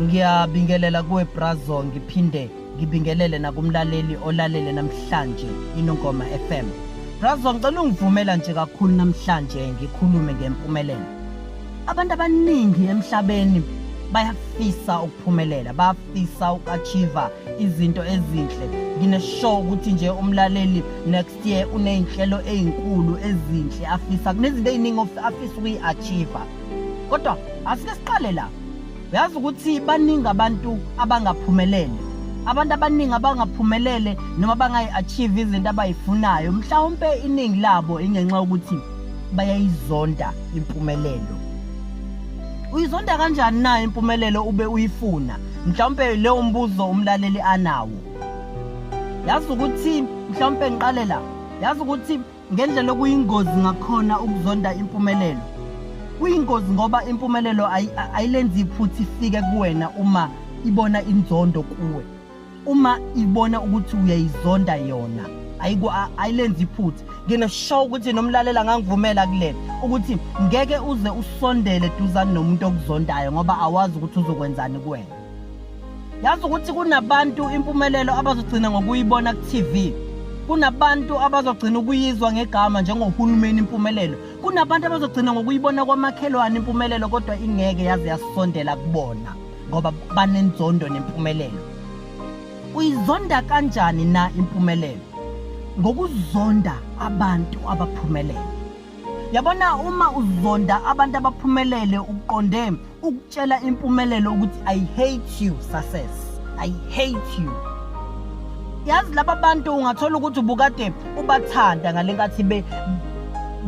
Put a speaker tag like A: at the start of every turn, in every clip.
A: ngiyabingelela kuwe brazo ngiphinde ngibingelele nakumlaleli olalele namhlanje inongoma FM brazo ngicela ungivumela nje kakhulu namhlanje ngikhulume ngempumelelo abantu abaningi emhlabeni bayafisa ukuphumelela bafisa ukachiva izinto ezinhle ngineshow ukuthi nje umlaleli next Ye unezinhlelo ezinkulu ezinhle afisa kunezinto eziningi afisa ukuyi-achieve. Kodwa asike siqale la. Uyazi ukuthi baningi abantu abangaphumelele. Abantu abaningi abangaphumelele noma bangayi-achieve izinto abayifunayo. Mhlawumpe iningi labo ingenxa yokuthi bayayizonda impumelelo. Uyizonda kanjani na impumelelo ube uyifuna? Mhlawumpe leyo mbuzo umlaleli anawo. yazi ukuthi mhlawumpe ngiqale la yazi ukuthi ngendlela okuyingozi ngakhona ukuzonda impumelelo kuyingozi ngoba impumelelo ayilenzi iphutha ifike kuwena uma ibona inzondo kuwe uma ibona ukuthi uyayizonda yona ayilenzi iphutha ngineshow ukuthi nomlalela ngangivumela kulena ukuthi ngeke uze usondele duzane nomuntu okuzondayo ngoba awazi ukuthi uzokwenzani kuwena yazi ukuthi kunabantu impumelelo abazogcina ngokuyibona ku-tv kunabantu abazogcina ukuyizwa ngegama njengohulumeni impumelelo kunabantu abazogcina ngokuyibona kwamakhelwane impumelelo kodwa ingeke yaze yasondela kubona ngoba banenzondo nempumelelo uyizonda kanjani na impumelelo ngokuzonda abantu abaphumelele yabona uma uzonda abantu abaphumelele uqonde ukutshela impumelelo ukuthi i hate you success i hate you yazi laba bantu ungathola ukuthi ubukade ubathanda ngale nkathi be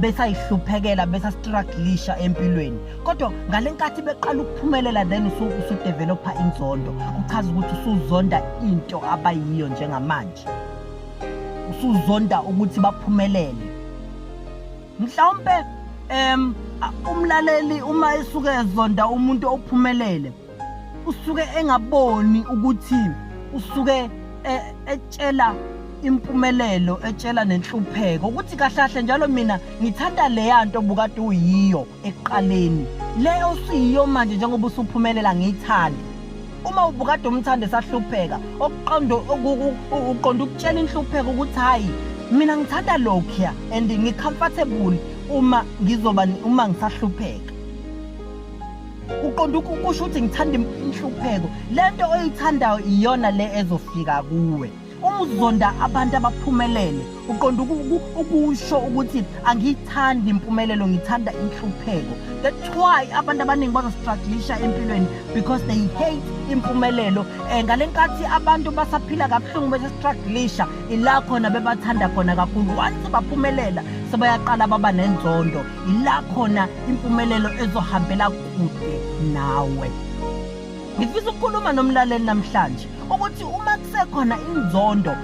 A: besayihluphekela besastruglisha empilweni kodwa ngale nkathi beqala ukuphumelela then usudevelopha inzondo kuchaza ukuthi usuzonda into abayiyo njengamanje usuzonda ukuthi baphumelele mhlawumpe em umlaleli uma esuke ezonda umuntu ophumelele usuke engaboni ukuthi usuke e, etshela impumelelo etshela nenhlupheko ukuthi kahlahle njalo mina ngithanda leya nto bukade uyiyo ekuqaleni le osuyiyo manje njengoba usuphumelela ngiyithanda uma ubukade umthanda esahlupheka okuqonda uqonda ukutshela inhlupheko ukuthi hhayi mina ngithanda lokhuya and ngicomfortable uma ngizoba uma ngisahlupheka uqonda ukusho ukuthi ngithanda inhlupheko lento oyithandayo iyona le ezofika kuwe Uma uzonda abantu abaphumelele uqonda ukusho ukuthi angiyithandi impumelelo ngithanda inhlupheko. That's why abantu abaningi bazostruglisha empilweni because they hate impumelelo. Eh ngale nkathi abantu basaphila kabuhlungu bese struglisha ila khona bebathanda khona kakhulu. Once baphumelela sebayaqala baba nenzondo. Ila khona impumelelo ezohambela kude nawe. Ngifisa ukukhuluma nomlaleli namhlanje ukuthi uma kusekhona inzondo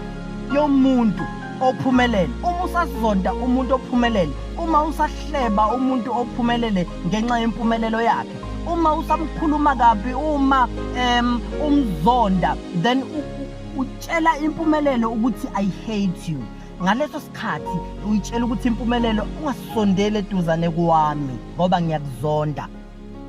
A: yomuntu ophumelele uma usasizonda umuntu ophumelele uma usahleba umuntu ophumelele ngenxa yempumelelo yakhe uma usamkhuluma kabi uma um umzonda then utshela impumelelo ukuthi i hate you ngaleso sikhathi uyitshela ukuthi impumelelo ungasondeli eduzane kwami ngoba ngiyakuzonda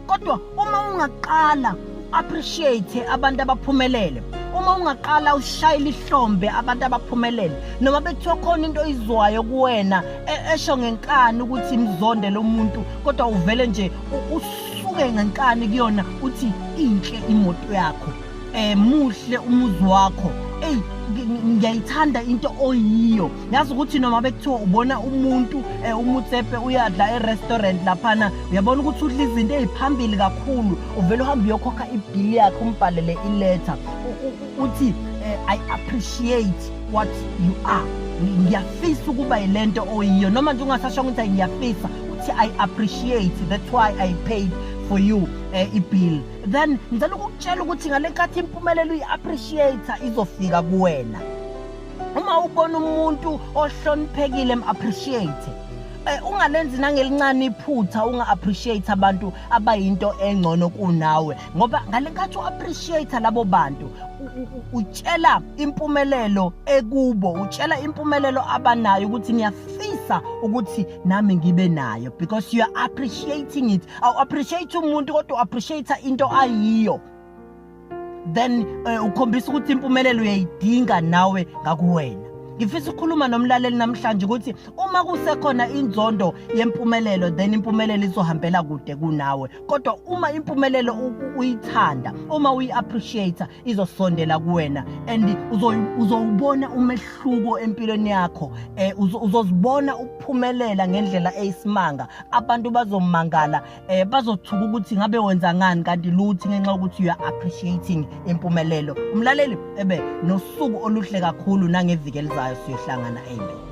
A: kodwa uma ungaqala appreciate abantu abaphumelele uma ungaqala ushayile ihlombe abantu abaphumelele noma bekuthiwa khona into oyizwayo kuwena e, esho ngenkani ukuthi mzonde lo muntu kodwa uvele nje usuke ngenkani kuyona uthi inhle imoto yakho Eh muhle umuzi wakho. Ey ngiyayithanda into oyiyo. Yazi ukuthi noma bekuthiwa ubona umuntu eh, umutsepe uyadla e-restaurant laphana uyabona ukuthi udla izinto eziphambili kakhulu. Uvela uhamba uyokhokha ibill yakhe umbhalele iletter. Uthi eh, I appreciate what you are. Ngiyafisa ukuba yilento oyiyo noma nje ungasasho ukuthi ngiyafisa uthi I appreciate that's why I paid for you uh, eh, ibill then ngicela ukukutshela ukuthi ngale nkathi impumelelo uyi-appreciate izofika kuwena uma ubona umuntu ohloniphekile em-appreciate eh, ungalenzi nangelincane iphutha unga-appreciate abantu abayinto engcono kunawe ngoba ngale nkathi u-appreciate labo bantu utshela impumelelo ekubo utshela impumelelo abanayo ukuthi ngiyafisa ukuthi nami ngibe nayo because you are appreciating it awu appreciate umuntu kodwa appreciate into ayiyo then uh, ukhombisa ukuthi impumelelo uyayidinga nawe ngakuwena ngifisa ukukhuluma nomlaleli namhlanje ukuthi uma kusekhona inzondo yempumelelo then impumelelo izohambela kude kunawe kodwa uma impumelelo uyithanda uma uyi-appreciate izosondela kuwena and uzowubona umehluko empilweni yakho eh uzozibona ukuphumelela ngendlela eyisimanga abantu bazomangala eh bazothuka ukuthi ngabe wenza ngani kanti luthi ngenxa ukuthi you are appreciating impumelelo umlaleli ebe nosuku oluhle kakhulu nangeviki elizayo siyohlangana amen